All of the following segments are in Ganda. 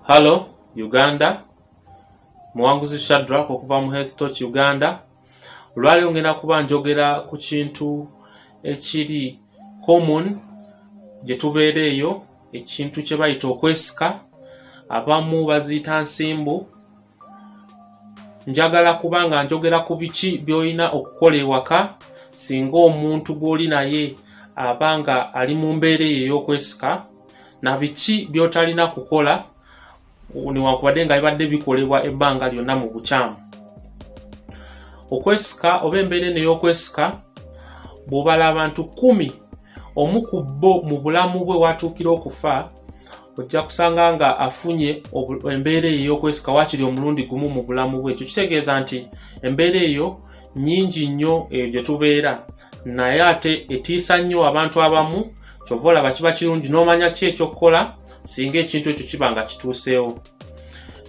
hallo uganda muwanguzi shadrak okuva mu health toch uganda olwaliro ngenda kuba njogera ku kintu ekiri common gye tubeera eyo ekintu kye bayita okwesika abamu baziyita nsimbu njagala kuba nga njogera ku biki by'olina okukola ewaka singa omuntu gw'oli naye aba nga ali mu mbeera eyo ey'okwesika na biki by'otalina kukola newankubadde nga bibadde bikolebwa ebbanga lyonna mu bukyamu okwesika oba embeera eno ey'okwesika bw'obala abantu kumi omu ku bo mu bulamu bwe watuukira okufa ojja kusanga nga afunye embeera eyo ey'okwesika wakiri omulundi gumu mu bulamu bwe ekyo kitegeeza nti embeera eyo nyingi nnyo eyo gye tubeera naye ate etiisa nnyo abantu abamu kyova olaba kiba kirungi n'omanya ki ekyokukola singa ekintu ekyo kiba nga kituuseewo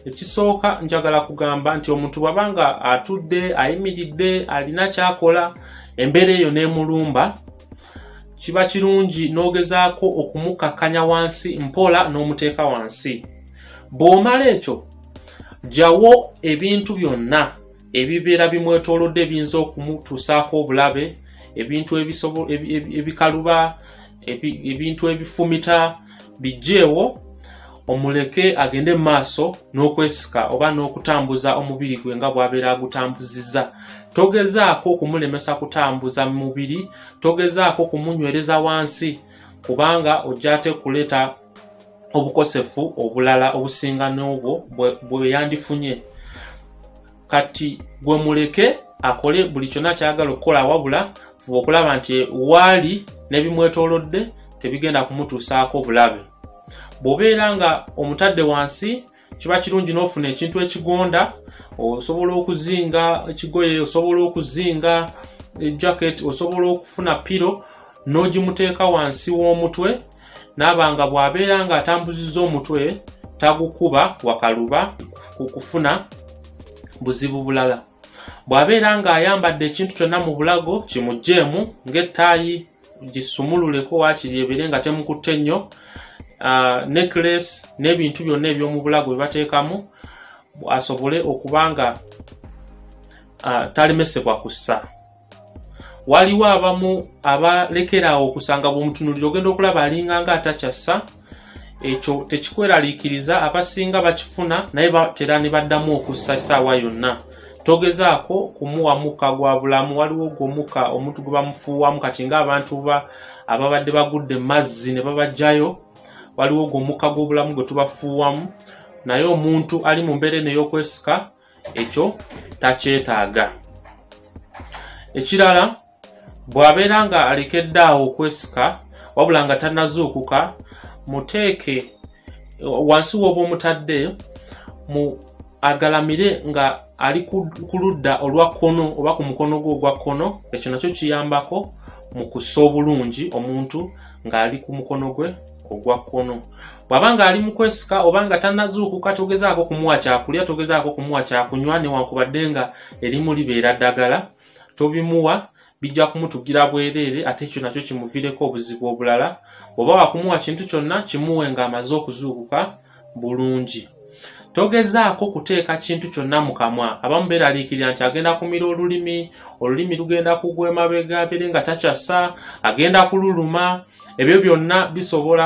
ekisooka njagala kugamba nti omuntu bwaba nga atudde ayimiridde alina kyakola embeera eyo n'emulumba kiba kirungi n'ogezaako okumukakkanya wansi mpola n'omuteeka wansi bw'omala ekyo jawo ebintu byonna ebibeera bimwetoolodde ebiyinza okumutuusaako obulabe ebintu ebikaluba ebintu ebifumita bijjeewo omuleke agende mu maaso n'okwesika oba n'okutambuza omubiri gwe nga bw'abeera agutambuziza togezaako okumulemesa kutambuza mu mubiri togezaako kumunywereza wansi kubanga ojja ate kuleeta obukosefu obulala obusinga n'obwo bwe yandifunye kati gwe muleke akole buli kyonna kyagala okukola wabula fuba okulaba nti waali n'ebimwetoolodde tebigenda kumutuusaako obulabe bw'obeera nga omutadde wansi kiba kirungi n'ofuna ekintu ekigonda osobola okuzinga ekigoye osobola okuzinga eh, jacket osobola okufuna piro n'ogimuteeka wansi w'omutwe naaba nga bw'abeera ng'atambuzizza omutwe tagukuba wakaluba ku kufuna buzibu bulala bw'abeera ng'ayambadde ekintu kyonna mu bulago kimugjeemu ng'ettaayi gisumululeko waakiri ebeere nga temukutte nnyo ah, necklace n'ebintu byonna eby'omu bulago bye bateekamu asobole okuba nga ah, talemesebwa kussa waliwo abamu abalekeraawo okusanga bwomutunuliro ogenda okulaba alinga nga atakyassa ekyo tekikweraliikiriza abasinga bakifuna naye batera ne baddamu okussa essaawa yonna togezaako kumuwa mukka gwa bulamu waliwo gwo mukka omuntu gwe bamufuuwamu kati ngaabantu ba ababadde bagudde mazzi ne babajjayo waliwo gwo mukka gw'obulamu gwe tubafuuwamu naye omuntu ali mu mbeera eno ey'okwesika ekyo takyetaaga ekirala bw'abeera nga alekedde awo okwesika wabula nga tanazuukuka muteeke wansi w'oba omutadde mu agalamire nga ali ku ludda olwa kkono oba ku mukono gwe ogwa kkono ekyo nakyo kiyambako mu kussa obulungi omuntu ng'ali ku mukono gwe ogwa kkono bw'aba ng'ali mu kwesika oba nga tanazuukuka togezaako kumuwa kyakulya togezaako kumuwa kyakunywa newankubadde nga erimu libeera ddagala tobimuwa bijja kumutugira bwereere ate ekyo nakyo kimuvireko obuzibu obulala oba wakumuwa kintu kyonna kimuwe ng'amaze okuzuukuka bulungi togezaako kuteeka kintu kyonna mu kamwa abamu beeraliikirira nti agenda kumira olulimi olulimi lugenda kugwa emabega abeere nga takyasa agenda kululuma ebyo byonna bisobola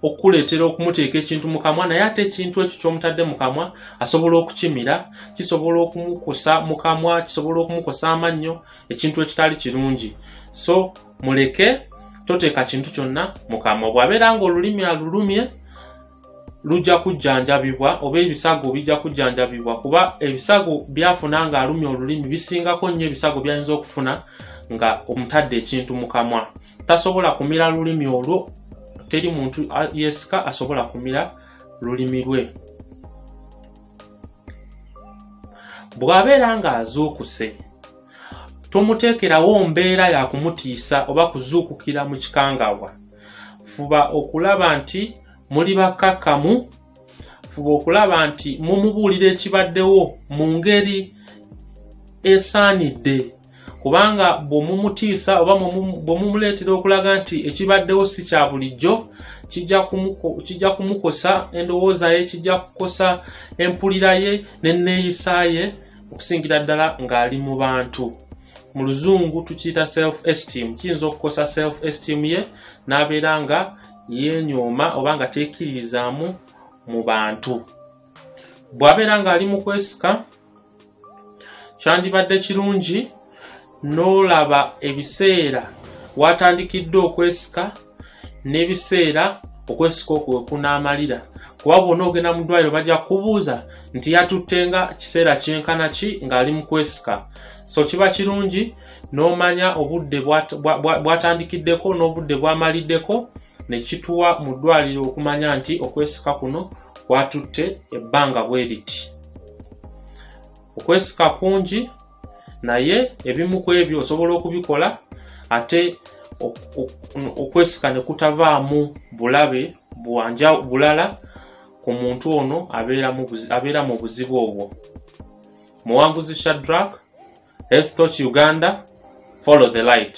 okukuleetera okumuteeka ekintu mu kamwa naye ate ekintu ekyo kyomutadde mu kamwa asobola okukimira kisobola okumukusa mu kamwa kisobola okumukusa amannyo ekintu ekitali kirungi so muleke toteeka kintu kyonna mukamwa bw'abeera nga olulimi alulumye lujja kujjanjabibwa oba ebisago bijja kujjanjabibwa kuba ebisago byafuna nga alumya olulimi bisingako nnyo ebisago byayinza okufuna nga omutadde ekintu mu kamwa tasobola kumira lulimi olwo teri muntu yesika asobola kumira lulimi lwe bw'abeera ng'azuukuse tomuteekerawo mbeera ya kumutiisa oba kuzuukukira mu kikangabwa fuba okulaba nti muli bakkakkamu fuba okulaba nti mumubuulira ekibaddewo mu ngeri esaanidde kubanga bwemumutiisa oba bwemumuleetera okulaga nti ekibaddewo si kya bulijjo kijja kumukosa endowooza ye kijja kukosa empulira ye n'enneeyisa ye ne okusingira ddala ng'ali mu bantu mu luzungu tukiyita self esteem kiyinza okukosa self esteem ye n'abeera nga yenyooma oba nga teekiririzaamu mu bantu bw'abeera ng'ali mu kwesika kyandibadde kirungi n'olaba ebiseera waatandikidde okwesika n'ebiseera okwesika okwo wekunaamalira kuba bwona ogenda mu ddwaliro bajja kubuuza nti yatutte nga kiseera kyenkana ki ng'ali mu kwesika so kiba kirungi n'omanya obudde bwatandikiddeko n'obudde bwamaliddeko ne kituwa mu ddwaliro okumanya nti okwesika kuno kwatutte ebbanga bwe riti okwesika kungi naye ebimu ku ebyo osobola okubikola ate okwesika ne kutavaamu bulabe bwanja bulala ku muntu ono abeera mu buzibu obwo muwanguzi shadrak estoch uganda follow the light